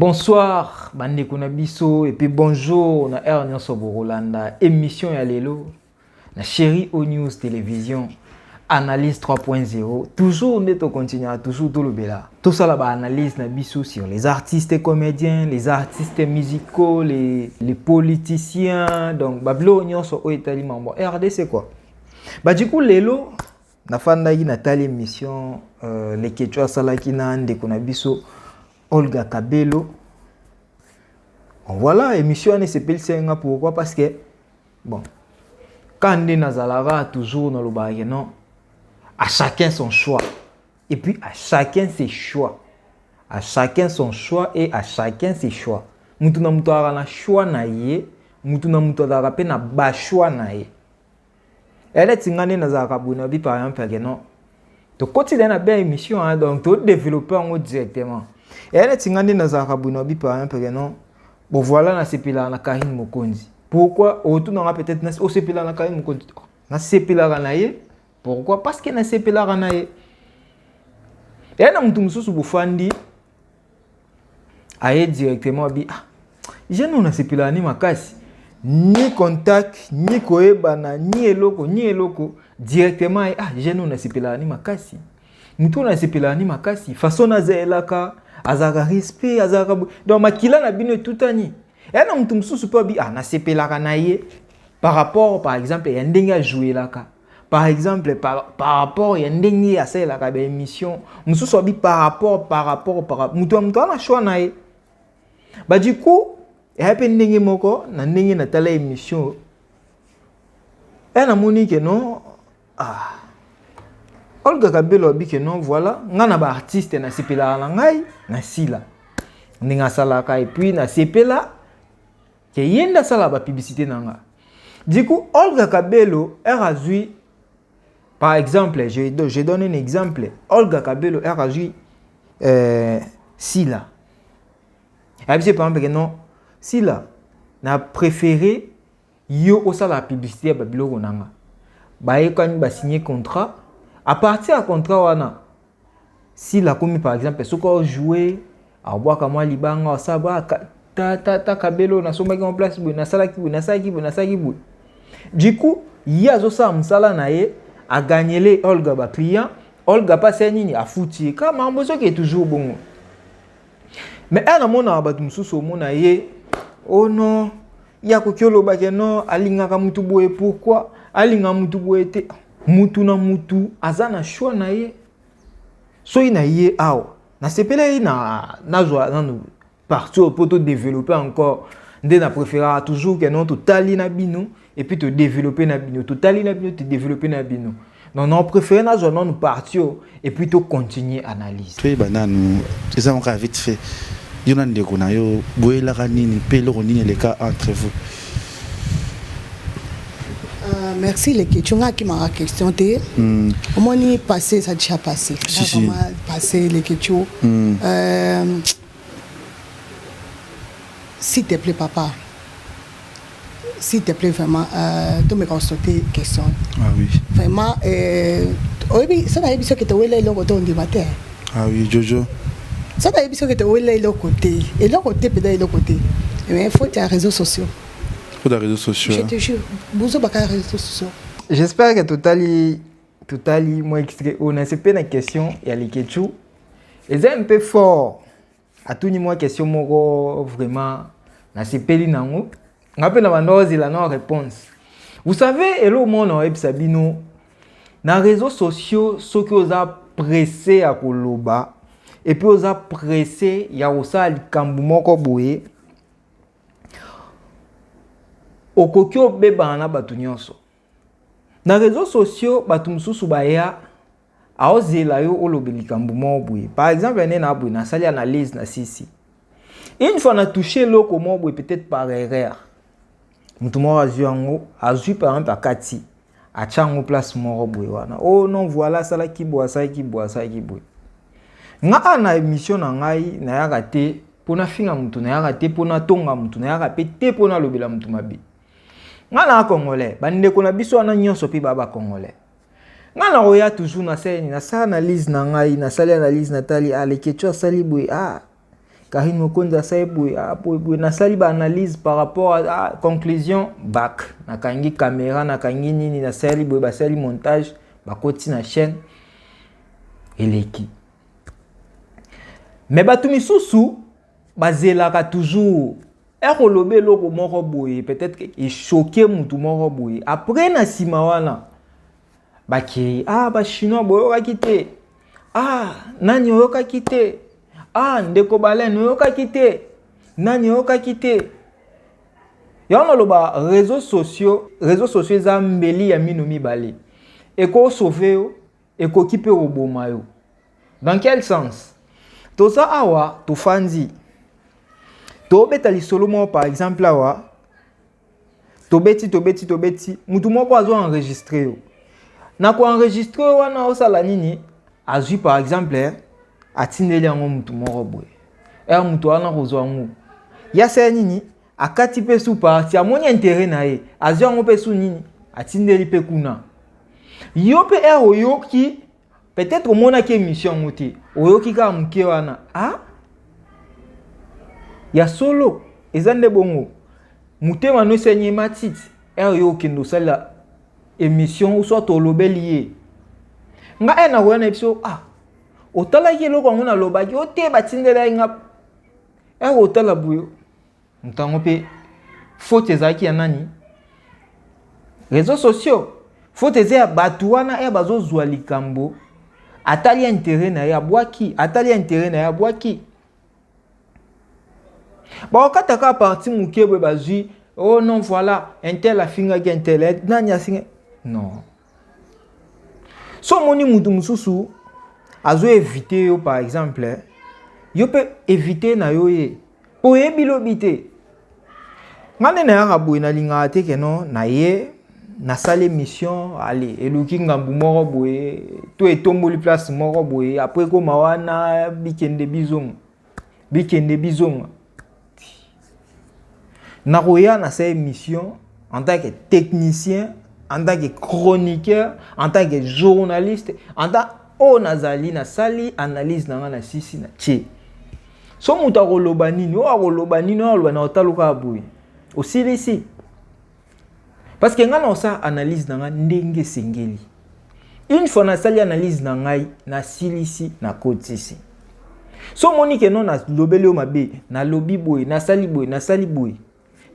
bonsoir bandeko na biso epuis bonjour na heure nyonso bokolanda émission ya lelo na Chéri O News Television analyse 3.0 toujours nde tocontinuera toujours tolobela tosala baanalyse na biso sur les artistes comédiens les artistes musicaux les, les politiciens donc babiloko nyonso oyo etali mambo rdc quoi ba du coup lelo nafandaki natali émission euh, leketcho asalaki na ndeko na biso olga kabelo voilà émission wana esepelisaki nga pourquoi parce que bon ka nde nazalaka toujours nalobaka ke non à chacun son choix et puis à chacun ses choix à chacun son choix et à chacun ses choix mutu na mutu azalaka na choix na ye mutu na mutu azalaka mpe na bachoix na ye eleti nga nde nazalaka boye na bi par exemple yake non tokoti da na bia émission hein, donc to développer yango directement eya neti nga nde nazalaka boye na bipa hein, peke non bon voilà nasepelaka na karine mokonzi pourquoi otunanga peut-être nasi osepelaka na karine mokonzi oh, nasepelaka na ye pourquoi parce que nasepelaka na ye eya na motu mosusu bofandi aye directement abi ah jeune oyo nasepelaka ni makasi ni contact ni koyebana ni eloko ni eloko directement aye ah jeune oyo nasepelaka ni makasi moto oyo nasepelaka ni makasi façon nazelaka azalaka respect azalaka donc makila na bino etutani eya na moto mosusu mpe abi ah nasepelaka na ye par rapport par exemple ya ndenge ajouelaka par exemple par, par rapport ya ndenge asalelaka baémission mosusu abi par rapport par rapport par rapport moto ya moto ana choix na ye ba du coup eya mpe ndenge moko na ndenge natala émission e eh, namoni ke non ah. olga kabelo abi ke non voilà ngai na baartiste nasepelaka na ngai nasila ndenge asalaka epuis nasepela Ke ye nde asala ba publicite na nga. Du coup, Olga Kabelo, heure azui, par exemple, je, je donne un exemple, Olga Kabelo, heure azui euh, Sila. Abise par exemple que non, Sila, na préféré yo osala publicité ya babiloko na nga. Bayekani basigne contrat, à partir ya contrat wana, sila akomi par exemple soki aojoue abwaka mwa libanga asala bwa ta, ta, ta kabelo nasombaki mwa place boye nasalaki boye nasalaki boye nasalaki boye du coup ye azosala mosala na ye aganyele olga baclient olga mpasi ya nini afuti ye kaka makambo ezoke toujours bongo mais ena mona bato mosusu omona ye oh non ye akoki oloba ke non alingaka motu boye pourquoi alingaka motu boye te motu na motu aza na choix na ye soki na ye awa nasepelaki na nazwa nanu parti oyo mpo todeveloppe encore nde na préféraka toujours ke non totali na bino et puis to développer na bino totali na bino to développer na bino non non préféré nazwa nanu parti oyo et puis to continuer analyse toyeba nanu eza moko ya vite fait yo na ndeko na yo boyelaka nini mpe eloko nini eleka entre vous euh, merci leki tionga akimaka question te hmm. omoni passé eza déjà passé si, si. passé leki tio hmm. euh, S'il te plait papa s'il te plait vraiment euh, tomeka kosote question ah, oui. vraiment euh, oyebi so nayebi soki towela eloko to ondima te ah, oui, jojo so nayebi soki towela eloko te eloko te mpenza eloko te mais faut ya réseaux sociaux faut ya réseaux sociaux je te jure bozo baka réseaux sociaux j'espère que totali totali mwa extrait oyo na sepe na question ya leketchu eza mpe fort atuni mwa question moko vraiment nasepeli nango nga mpe na banda ozela na réponse vous savez eloko moko na oyebisa bino na réseaux sociaux soki oza presse ya koloba epuis oza presse ya kosala likambo moko boye okoki obebana na bato nyonso na réseaux sociaux bato mosusu baya aozela yo olobe likambo moko boye par exemple ane na boye nasali analyse na sisi une fois na touche eloko moko boye peut-être par erreur moto moko azwi yango azwi par exemple akati atya yango place moko boye wana o oh non voilà asalaki boye asalaki boye asalaki boye ngaa na émission na ngai nayaka te mpo nafinga moto nayaka te mpo natonga moto nayaka mpe te mpo nalobela moto mabe nga na congolais bandeko na biso wana nyonso mpe baa bacongolais nga na koya toujours na seni nasala analyse na ngai nasali analyse natali alekecho ah, asali boye a ah, karine mokonzi asali boye a ah, boye boye nasali baanalyse par rapport a conclusion bak nakangi kamera nakangi nini nasali boye basali montage bakoti na chaîne eleki me bato misusu bazelaka toujours ekoloba eloko moko boye peut-être que echoke mutu moko boye après na nsima wana bakei ah bachinois boyokaki te ah nani oyokaki te ah ndeko balene oyokaki te nani oyokaki te yango naloba réseau sociaux réseau sociaux eza mbeli ya mino mibale ekosauve yo Ekoki pe koboma yo. Dans quel sens? Toza awa tofandi. Tobeta lisolo moko par exemple awa. Tobeti tobeti tobeti, mutu moko azo enregistrer yo. Na ko enregistrer wana osala nini? Azui par exemple atindeli yango mutu moko boye. Er mutu wana kozwa yango. Yasala nini? akati mpe su parti amoni intere na ye azwi yango mpe su nini atindeli mpe kuna yo mpe ere oyoki peut-être omonaki émission yango te oyoki kaka moke wana a ah? ya solo eza nde bongo motema nyonso enye matiti ere yo okende osalela émission soit tolobeli ye nga ere nakoya na biso ah otalaki eloko yango nalobaki o te batindelaki nga ere otala boyo moto yango mpe faute ezalaki ya nani réseaux sociaux faute eza ya bato wana ya bazozwa likambo atali ya intere na ye abwaki atali ya intere na ye abwaki bakokata kaka parti moke boye bazwi oh non voilà intel afingaki intel eh, nani asinga non so omoni moto mosusu azo evite yo par exemple yo mpe evite na yo ye mpo oyebi lobi te ngai nde nayaka boye nalingaka te keno na ye nasala émission ale eluki ngambu moko boye to etomboli place moko boye apres ekoma wana bikende bizongo bikende bizonga nakoya na sa émission en tant que technicien en tant que chroniqueur en tant que journaliste en tant oyo oh, nazali nasali analyse na ngai na sisi na tie so moto akoloba nini oyo akoloba nini oyo akoloba na otaluka ya boye osilisi Parce que ngai na osala analyse na ngai ndenge esengeli. Une fois nasali analyse na ngai nasilisi nakotisi. So omoni ke non nalobeli yo mabe nalobi boye nasali boye nasali boye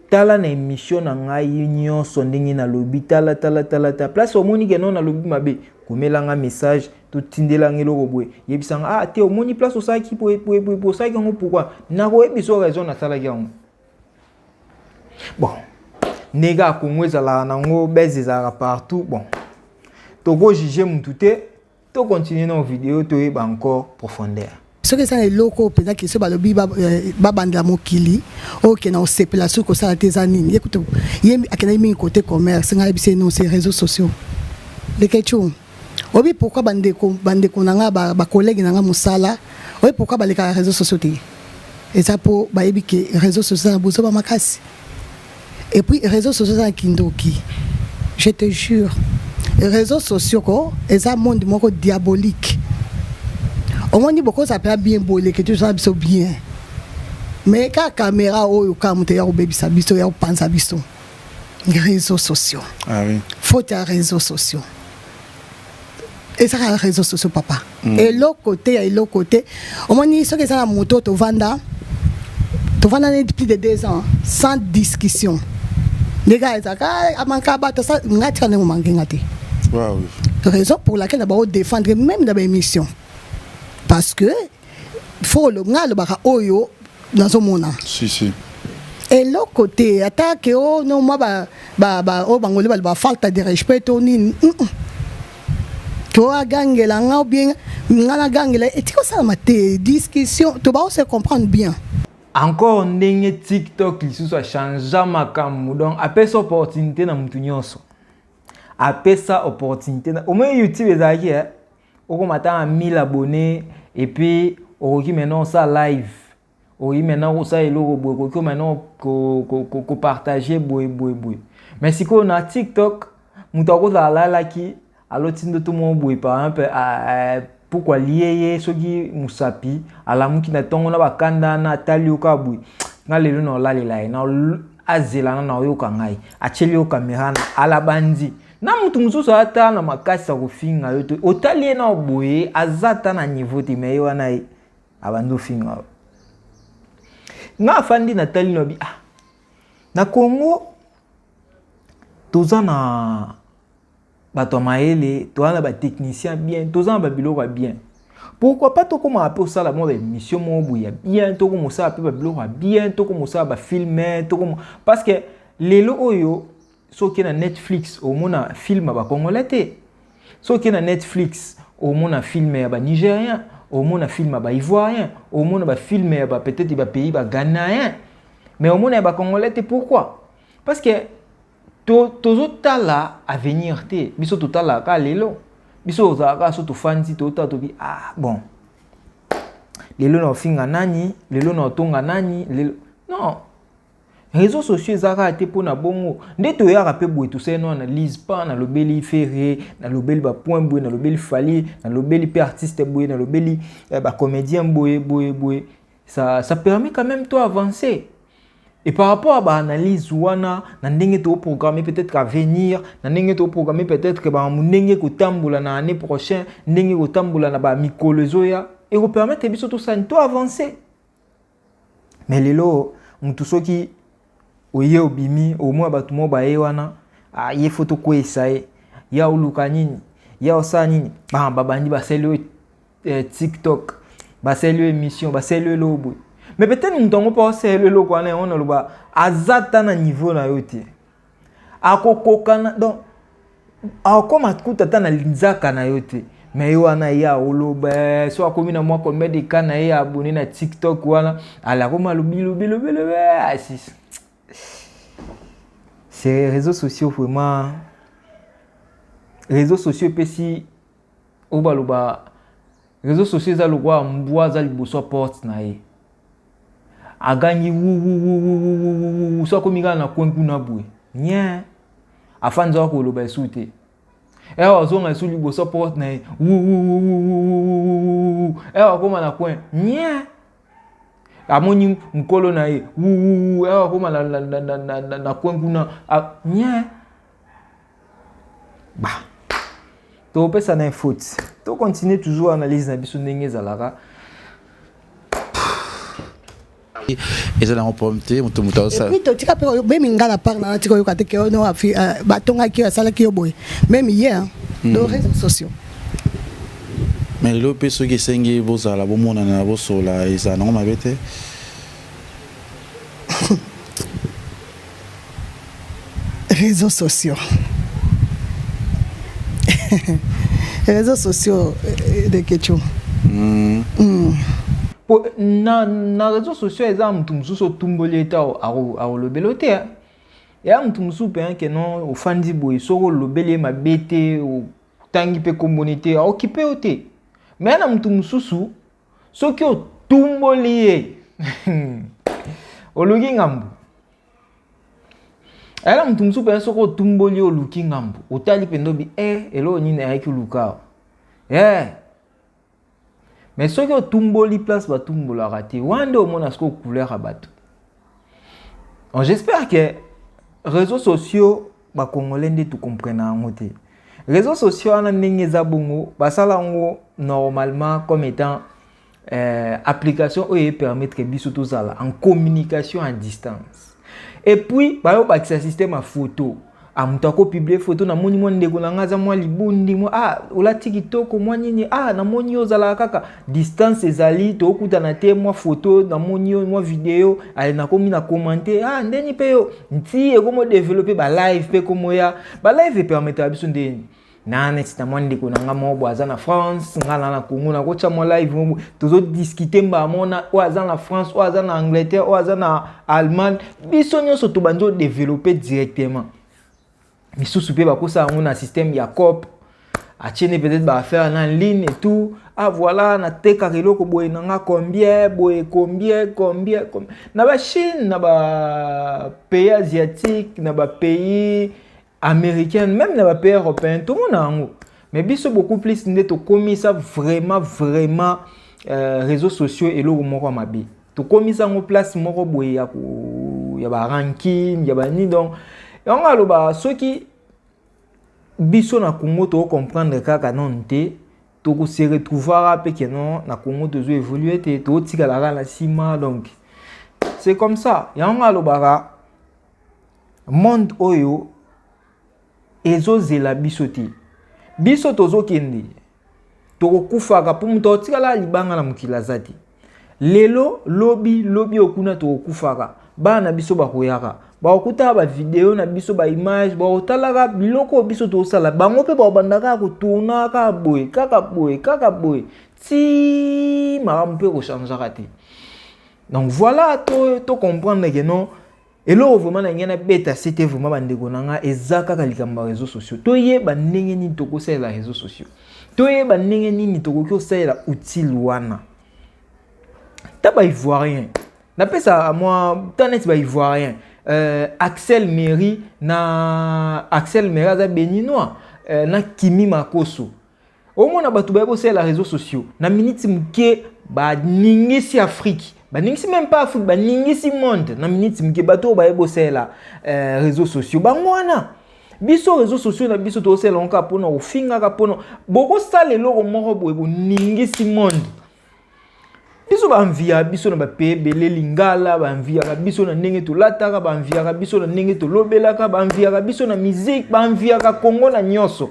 tala na emission na ngai nyonso ndenge nalobi tala tala tala ta place omoni ke non nalobi mabe komela nga message totindela nga eloko boye yebisa nga ah te omoni place osalaki boye boye boye osalaki yango pourkui nakoyebisa yo raison nasalaki yango bon ndenge kaka congo ezalaka nango bese ezalaka partout bon tokojuge mutu te tokontinue na video toyeba encore profondeur soki eza na eloko oyo mpenza kisi oyo balobi eh, babandela mokili oyo okenda kosepela soki kosala te eza nini ye kutu ye akendaki mingi kote commerce ngai yebisi ye non se réseau sociaux leketshou obi pourquoi bandeko bandeko na nga ba, ba collègue na nga mosala obi pourquoi balekaka réseaux sociaux te eza mpo bayebi ke réseaux sociaux na bozoba makasi et puis réseaux sociaux na kindoki je te jure réseaux sociaux ko eza monde moko diabolique omoni bokozala mpenza bien boleke tozala biso bien mais kaka kamera oyo kaka moto ya kobebisa biso ya kopanza biso réseaux sociaux ah oui. faute ya réseaux sociaux ezaka réseaux sociaux papa mm. eloko te ya eloko te omoni soki eza na moto tovanda tovanda neti plus de deux ans sans discussion ndenge ezaka ah, amanka bato ngai tika ndenge omanke nga te raison pour laquelle na bango défendre même na baémission parce que fokolo ngai alobaka oyo nazomona si, si. eloko te ata ke o oh, no mwa oyo ba, ba, oh, bangoli baloba falta de respect to nini mm -mm. to agangela nga obien nga nagangela etiki osalama te discussion to baose comprendre bien encore ndenge tiktok lisusu achangea makambo donc apesa opportunité na motu nyonso apesa opportunité na omoi youtube ezalaki eh? okoma ata na 1000 abonne epuis okoki maintenant osala live okoki maintenant kosala eloko boye okoki maintenant kopartage boye boye boye me sikoyo na tiktok moto akozala alalaki aloti ndoto moko boye par exemple puku alie ye soki mosapi alamuki na ntongo na bakanda wana atali yo kaka boye nga lelo na olalela ye azelana na oyoka ngai atyeli yo kamera na alabandi na mutu mosusu ata na makasi ya kofinga yo te otali ye nao boye aza ata na niveau te me ye wana ye abandi ofinga yo nga afandi natali nabi ah na congo toza na bato ya mayele toza na batechnicien bien toza na babiloko ya bien pourquoi pas tokomaka mpe osala mwa baémission moko boye ya bien tokoma osala mpe babiloko ya bien tokoma osala bafilme tokoma parce que lelo oyo soki na netflix omona film ya bacongolais te soki na netflix omona film ya banigerien omona film ya baivoirien omona bafilme ya ba peut-être bapays baganayen mais omona ya bacongolais te pourquoi parce que tozotala to avenir te biso totalaka kaka lelo biso ozalaka kaka so tofandi totala tobi ah bon lelo na ofinga nani lelo na otonga nani lelo non Reseaux sociaux eza kaka te mpo na bongo nde toyaka mpe boye tosali no analyse pa nalobeli ferre nalobeli bapoint boye nalobeli fali nalobeli mpe artiste boye nalobeli eh, bacomédien boye boye boye ça, ça permet quand même toi avancer et par rapport à baanalyse wana na ndenge toprograme peut-être avenir na ndenge toprograme peut-être bamamu ndenge kotambola na année prochain ndenge kotambola na bamikolo ezoya ekopermettre biso tosani to avancer me lelo mutu soki oye obimi omona bato moko baye wana ah, ye fo tokweisa ye ya oluka nini ya osala nini ah, babandi basali oyo eh, tiktok basali oyo émission basali oyo eloko boye me peut-être moto yango mpo asali eloko wana yango naloba aza ta na niveau na yo te akokokana donc akoma kuta ata na linzaka na yo te me ye wana ye aoloba eh, so akomi na mwa combien de cas na ye abone na tiktok wana alakomi alobilobilobilobi asis ah, c'est réseaux sociaux vraiment réseaux sociaux epesi oyo baloba reseau sociaux eza lokola mbwa aza liboso ya porte na ye agangi wuwuwuwuwuwu so akomi kaka na coin kuna boye nien afandi zaka koloba esu te ewa azonga esu liboso ya porte na ye wuwuwuwuwuwuwuwu ewa akoma na coin nien amoni mokolo na ye wuwuwu ewa akoma na coin kuna nien ba topesa na faute to continuer toujours analyse na biso ndenge ezalaka eza nango problème te moto moto aosala totika mpe meme nga na part nana tika oyoka te ke ono euh, batongaki yo asalaki yo boye meme ye hmm. to réseaux sociaux mais lelo mpe soki esengi bozala bomonana bosolola ezala nango mabe te Réseaux sociaux. Réseaux sociaux euh, de Ketchou. Mm. Mm. Po, na, na réseaux sociaux eza mutu mususu otumboli ete akolobela o te hein. ya mutu mususu mpe hein, ke non ofandi boye soki olobeli ye mabe te otangi mpe komboni te aokipe yo te mais ya na mutu mususu soki otumboli ye oluki ngambo ayala moto mosusu mpenza soki otumboli ye oluki ngambo otali mpenza obi e eh, eloko nini ayaki oluka e eh. mais soki otumboli place batumbolaka te wana nde omona sikoyo couleur ya bato Oh, j'espère que réseaux sociaux bakongolais nde tokomprena yango te réseaux sociaux wana ndenge eza bongo basala yango normalement comme étant euh, application oyo epermettre biso tozala en communication à distance et puis bayobakisa système ya photo ah moto ako publie foto namoni mwa ndeko na ngai aza mwa libundi mwa ah olati kitoko mwa nini ah namoni yo ozalaka kaka distance ezali tokutana te mwa foto namoni yo mwa video aye nakomi na komante ah ndeni mpe yo nti ekomi odevelope balive mpe ekomoya balive epermetaka biso ndeni na neti na mwa ndeko na nga moko boye aza na france nga na na congo nakotya mwa live moko boye tozodiskite mbala moko na oyo aza na france oyo aza na angleterre oyo aza na allemagne biso nyonso tobandi odeveloppe directement misusu mpe bakosala yango na système ya cop atie nde peut-être baaffaire na ligne et tout ah voilà natekaka eloko boye na nga combien boye combien combien na bachine na bapays asiatique na bapays americaine meme na bapays européen tomona yango mais biso beaucoup plus nde tokomisa vraiment vraiment euh, réseaux sociaux eloko moko ya mabe tokomisa yango place moko boye ya, ya baranking ya banini donc yango aloba soki biso na congo tokocomprendre kaka nanu te tokose retrouvaka mpe keno na congo tozo évolue te totikala kaka na nsima donc c'est comme ça yango alobaka monde oyo ezozela biso te biso tozokende tokokufaka mpo moto akotikala libanga na mokili aza te lelo lobi lobi oyo kuna tokokufaka bana na biso bakoyaka bakokutaka bavideo na biso baimage bakotalaka biloko oyo biso tozosala bango mpe bakobandaka kotourna kaka boye kaka boye kaka boye ti makambo mpe kochangeaka te donc voilà to, to comprendre ke non eloko vraiment na ngai nabeta sete vraiment bandeko na ngai eza kaka likambo ya réseaux sociaux toyeba ndenge nini tokosalela réseaux sociaux toyeba ndenge nini tokoki kosalela outile wana ta baivoirien napesa mwa ta neti baivoirien euh, axel mairie na axel mairie aza béninois euh, na kimi makoso omona bato baye bosalela réseaux sociaux na miniti moke baningisi afrique baningisi meme pas afrique baningisi monde na miniti moke bato oyo baye bosalela euh, réseaux sociaux bango wana biso réseaux sociaux na biso tozosalela yango kaka mpona kofingaka mpona bokosala eloko moko boye boningisi monde biso banviya biso na bape ebele lingala banviyaka biso na ndenge tolataka banviyaka biso na ndenge tolobelaka banviyaka biso na miziki banviyaka kongo na nyonso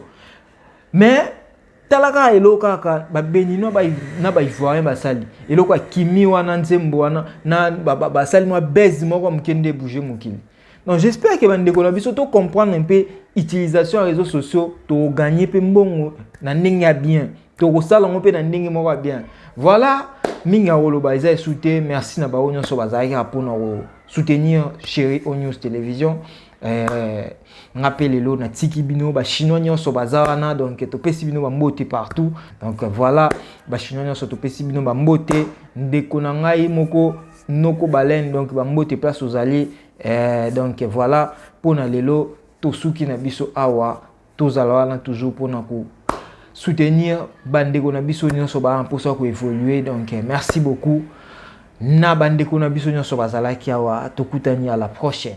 mais tala kaka eloko kaka babeninois na baivoirien basali eloko ya kimi wana nzembo wana na basali mwa base moko moke nde bouge mokili donc j'espère ke bandeko na biso to comprendre mpe utilisation ya réseaux sociaux tokogagne mpe mbongo na ndenge ya bien tokosala yango mpe na ndenge moko ya bien voilà mingi ya koloba eza esu te merci na bango nyonso bazalaki kaka mpo na ko soutenir chéri o news télévision Eh, nga mpe lelo natiki bino bachinois nyonso baza wana donc topesi bino bambote partout donc voilà bachinois nyonso topesi bino bambote ndeko na ngai moko noko baleine donc bambote place ozali eh, donc voilà mpo na lelo tosuki na biso awa tozala wana toujours mpo na ko soutenir bandeko na biso nyonso baa mposa ya koévolue donc eh, merci beaucoup na bandeko na biso nyonso bazalaki awa tokutani à la prochaine